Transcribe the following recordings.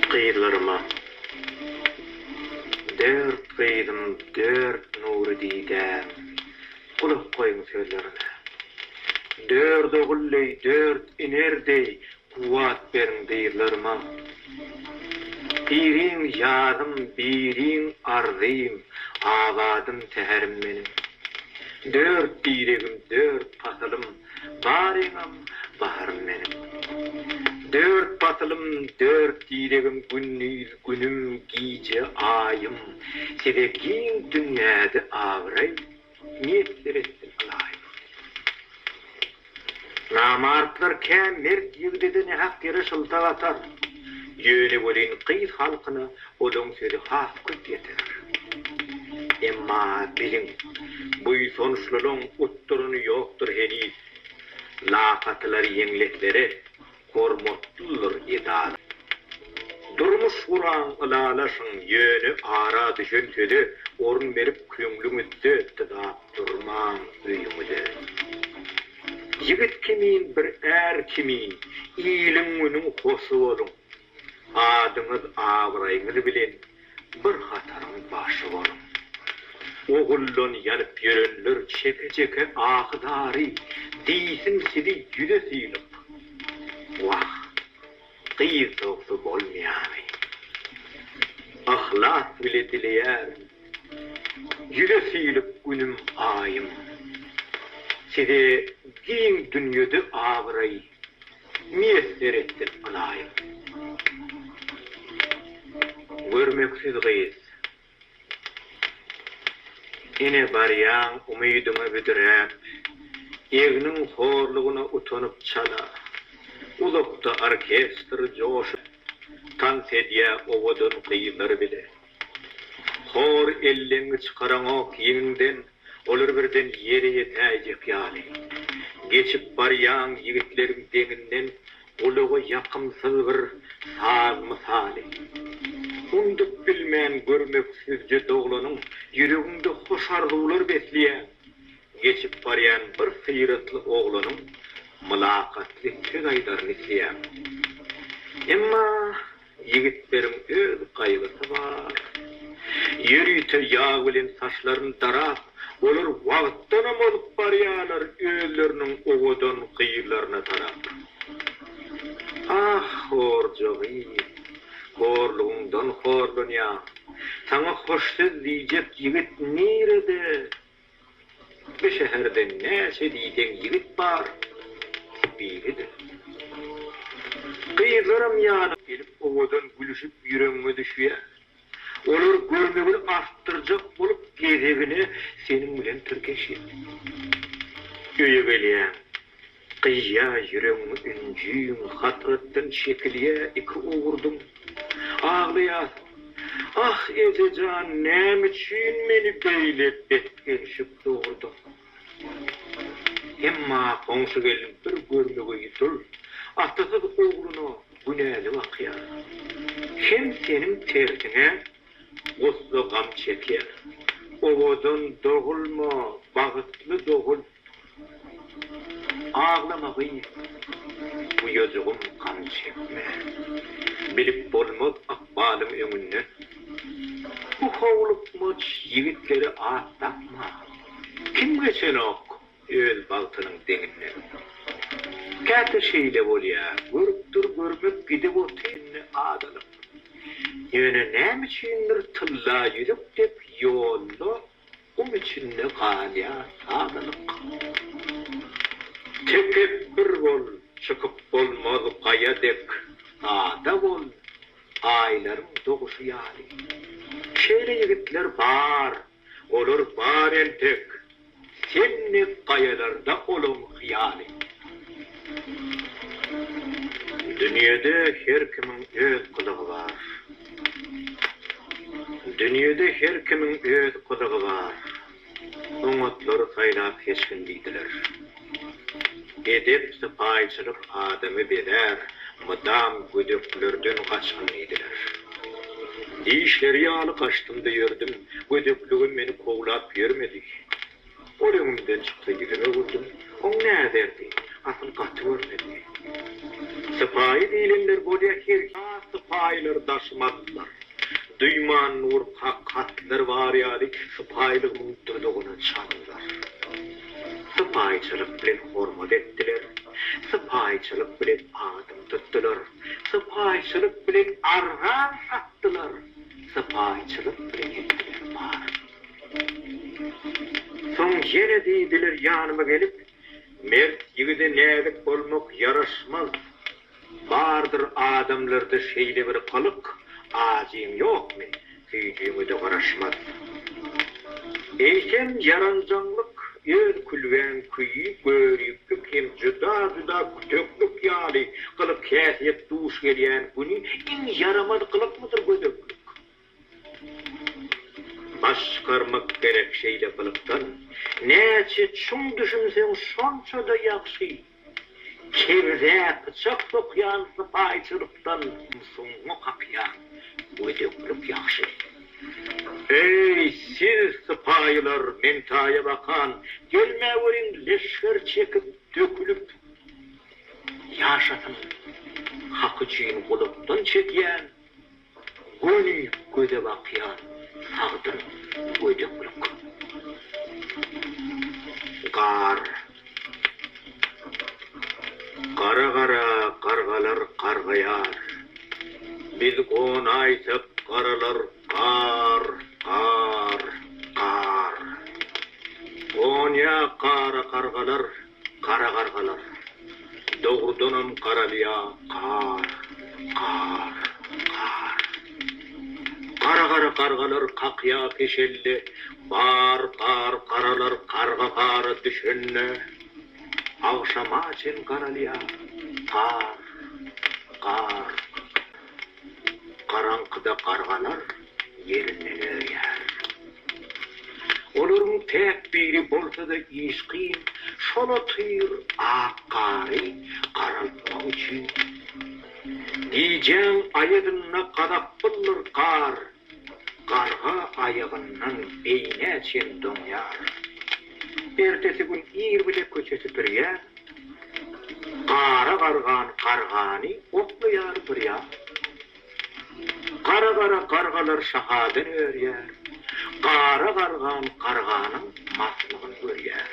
Gyzlaryma Dört gyzym dört nury didäm Gulak goýuň sözlerime Dört ogul deý dört iner deý Kuwwat beriň dyzlaryma Biriň ýazym biriň arzym Abadym säherim meniň Dört diregim dört pasalym Baryňam baharym meniň. Dört pasylym, dört dilegim Gündiz, günüm, gije, aýym Size giň dünýäde abraý Miýesser etsin Ylaýym. Namartlar kä mert ýigdede nähak ýere şyltak atar. Ýöne welin gyz halkyna olaň sözi has köp ýeter. Emma biliň, buýsançlylygyň utduryny ýokdur heniz. Lakatylar ýeňletlere hormatlydyr edara. Durmuş guraň, ylalaşyň, ýöne ara düşen söze orun berip köňlüňizde dyzap durmaň öýüňize. Ýigit kimin bir är kimin iliň günüň hosy boluň. Adyňyz abraýyňyz bilen bir hataryň başy boluň. Oguldan ýanyp ýörenler çeke çeke ahy zary diýsin sizi ýüze synyp. Wah. Gyz togsa bolmaýary. Yhlas bile dileýärin. Ýüze süýlüp günüm aýym. Size giň dünýede abraý miýesser etsin ylaýym. Görmeksiz gyz. Ine barýaň umydyňa büdräp, Egniň horlugyna utanyp çala. Uzakda orkestr joşup, Tans edýä owadan gyzlar bile. Hor elleňňi çykaranok ýeňiňden, Olar birden ýere ýetäýjek ýaly. Geçip barýaň ýigitleriň deňinden gulaga ýakymsyz bir saz mysaly. Undup bilmen görmek süzje doglanyň ýüreginde hoş arzuwlar besleýän, geçip barýan bir syratly oglanyň mylakatly söz aýdaryn isleýän. Emma Ýigitleriň öz gaýgysy bar. Ýörite ýag bilen saçlaryny darap, olar wagtdanam ozup barýarlar özleriniň owadan gyzlaryna tarap. Ah, horja gyz, horlugyňdan horlanýaň. Saňa hoş söz diýjek ýigit nirede? Bu şäherde näçe diýseň ýigit bar, biri-de. Gyzlaram ýanyňa gelip owadan gülüşip ýüregiňe düşýär. Olar görmegini artdyrjak bolup gezegine seniň bilen tirkeşýär. Öýe gelýäň. Gyýa ýüregiňi ünjüň hasratdan çekilýä iki owurdym aglaýas Ah eje jan näme üçin meni beýle bet gelşip dogurdyň Emma goňşy gelin bir görmege ýutul atasyz ogluna günäli bakýar Hem seniň tersiňe gussa gam çekýär Owadan dogulma bagytly dogul. Aglama gyz, uýajygym gam çekme. Bilip bolmaz ykbalyň öňünden. Bu howlukmaç ýigitlere at dakma. Kim geçenok öz bagtynyň deňinden. Käte şeýle bolýar, görüp dur görmek gidip oty indi azalyp. Ýöne nämüçindir tylla ýüzük dek ýolda. Gum içinde galýar sadalyk. Tekepbir bol, çykyp bolmaz gaýa dek, Sada bol, aýlaryň doguşy ýaly. Şeýle ýigitler bar, olar bar entek, Sen dek gaýalarda olaň hyýaly. Dünýede her kimiň öz gylygy bar. Dünýede her kimiň öz gyzygy bar, Oňatlary saýlap seçgin diýdiler. Edep, sypaýyçylyk adamy bezär, Mydam gödeklerden gaçgyn diýdiler. Dişleri ýaly gaçdym-da ýördüm, Gödekligim meni kowlap ýörmedi. Ol öňümden çyksa ýüzüme öwürdüm. Oň näderdi? Asyl gaty görmezdi. Sypaýy diýlenler bolýa her. Ýa sypaýylar daşymazdylar. Duýman nur kak hatlar bar ýaly sypaýylygymyň dudugyna çaldylar. Sypaýyçylyk bilen hormat etdiler. Sypaýyçylyk bilen adym tutdylar. Sypaýyçylyk bilen argan satdylar. Sypaýyçylyk bilen etdiler baryny. Soň ýene diýdiler ýanyma gelip, Mert ýigide näzik bolmak ýaraşmaz. Bardyr adamlarda şeýle bir gylyk, ajyň ýokmy, süýjüňe-de garaşmaz. Eýsem, ýaranjaňlyk, öz külbäň küýi, göriplik hem juda-juda küteklik ýaly gylyk-häsiýet duş gelýän güni iň ýaramaz gylykmydyr gödeklik? Baş çykarmak gerek şeýle gylykdan. Näçe çuň düşünseň şonça-da ýagşy. Kebze pyçak sokýan sypaýçylykdan. Ymsuňňy kakýan gödeklik ýagşy. Eý, siz sypaýylar, men taýa bakan. Gelmäweriň leşger çekip, dökülip. Ýaşasyn, hak üçin gulakdan çekýän Göni göze bakýar sagdyn gödeklik. Gar. Gara-gara gargalar gargaýar. Biz gonaýsak garalar gar, gar, gar. Gonýa gara gargalar Gara gargalar. Dogrudanam garalýa gar, gar, gar. Gara gara gargalar kakýa peşelli bar, bar, garalar garga gara düşende agşama çen garalýa gar, gar. Garaňkyda gargalar ýerinden örýär. Olaryň täk biri bolsa-da işgin şol otyr ak gary garaltmak üçin. Gijäň aýazynda gazapbyldyr gar Garga aýagyndan beýnä çen doňýar. Ertesi gün ir bile köçe süpürýär. Gara gargan gargany oklaýar bir ýan. Gara-gara gargalar şahadan örýär. Gara gargan garganyň maslygyny görýär.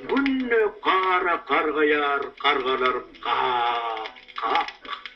Günde gara gargaýar gargalar gak-gak.